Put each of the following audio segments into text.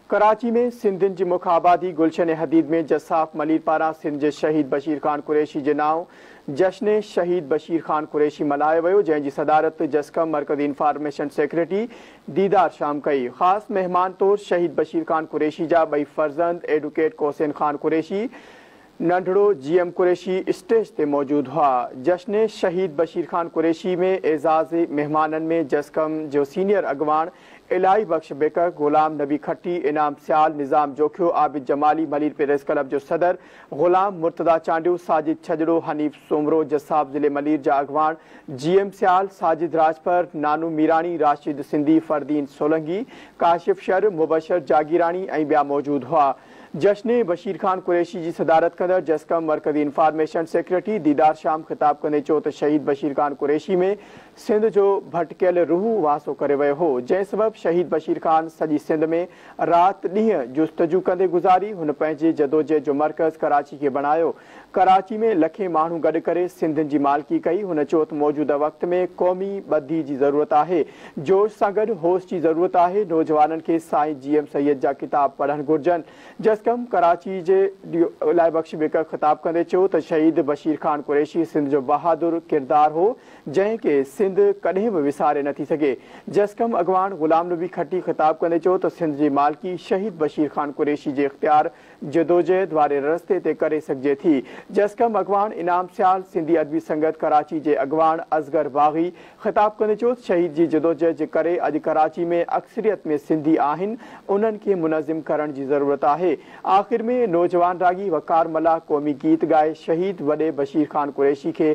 ڪراچي ۾ سنڌين جي مک آبادي گلشن حديد ۾ جساف ملير پاران سنڌ جي شهيد بشير خان قريشي جي نانء جشن شهيد بشير خان قريشي ملهايو ويو جنهن جي صدارت جسقم مرڪزي انفارميشن سيڪريٽري ديدار شام ڪئي خاص مهمان طور شهيد بشير خان قريشي جا ٻئي فرزند ايڊوڪيٽ ڪوسين خان قريشي ننڍڙو جي ايم قريشي اسٽيج تي موجود هئا جشن شهيد بشير خان قريشي ۾ اعزازي مهمانن ۾ جسقم جو سينيئر اڳواڻ الاهي بخش بيڪر، غلام نبي کٽي، انعام سيال، نظام جوکيو، عابد جمالي، ملير پريس ڪلب جو صدر، غلام، مرتضيٰ چانڊيو، ساجد ڇڄڙو، حنيف سومرو، جساب ضلعي ملير جا اڳواڻ، جي ايم سيال، ساجد راڄپر، نانو ميراڻي، راشد سنڌي، فريدين سولنگي، ڪاشف شر، مبشر جاگيراڻي ۽ ٻيا موجود هئا. جشن بشير خان قريشي جي صدارت ڪندڙ جسقم مرڪزي انفارميشن سيڪريٽري ديدار شام خطاب ڪندي چيو ته شهيد بشير خان قريشي ۾ سنڌ جو ڀٽڪيل روح واسو ڪري ويو هو، جنهن سبب شهيد بشير خان سڄي سنڌ ۾ رات ڏينهن جستجو ڪندي گذاري، هن پنهنجي جدوجهد جو مرڪز ڪراچي کي بڻايو، ڪراچي ۾ لکين ماڻهو گڏ ڪري سنڌين جي مالڪي ڪئي، هن چوته موجوده وقت ۾ قومي ٻڌي جي ضرورت آهي، جوش سان گڏ هوش جي ضرورت آهي، نوجوانن کي سائين جي ايم سيد جا ڪتاب پڙهڻ گهرجن، جسقم ڪراچي جي ڊيو الائي بخش بيڪر خطاب ڪندي چيو ته شهيد بشير خان قريشي سنڌ جو بهادر ڪردار هو، جنهن کي سنڌ ڪڏهن به وساري نه ٿي سگهي. جسقم اڳواڻ غلام نبي کٽي خطاب ڪندي چيو ته سنڌ جي مالڪي شهيد بشير خان قريشي جي اختيار جدوجهد واري رستي تي ڪري سگهجي ٿي. جسقم اڳواڻ انعام سيال، سنڌي ادبي سنگت ڪراچي جي اڳواڻ اصغر باغي خطاب ڪندي چيو ته شهيد جي جدوجهد جي ڪري اڄ ڪراچي ۾ اڪثريت ۾ سنڌي آهن انهن کي منظم ڪرڻ جي ضرورت آهي. آخر ۾ نوجوان راڳي وقار ملاح قومي گيت ڳائي شهيد وڏي بشير خان قريشي کي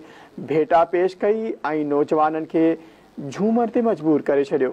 ڀيٽا پيش ڪئي ۽ نوجوانن کي جهومر تي مجبور ڪري ڇڏيو.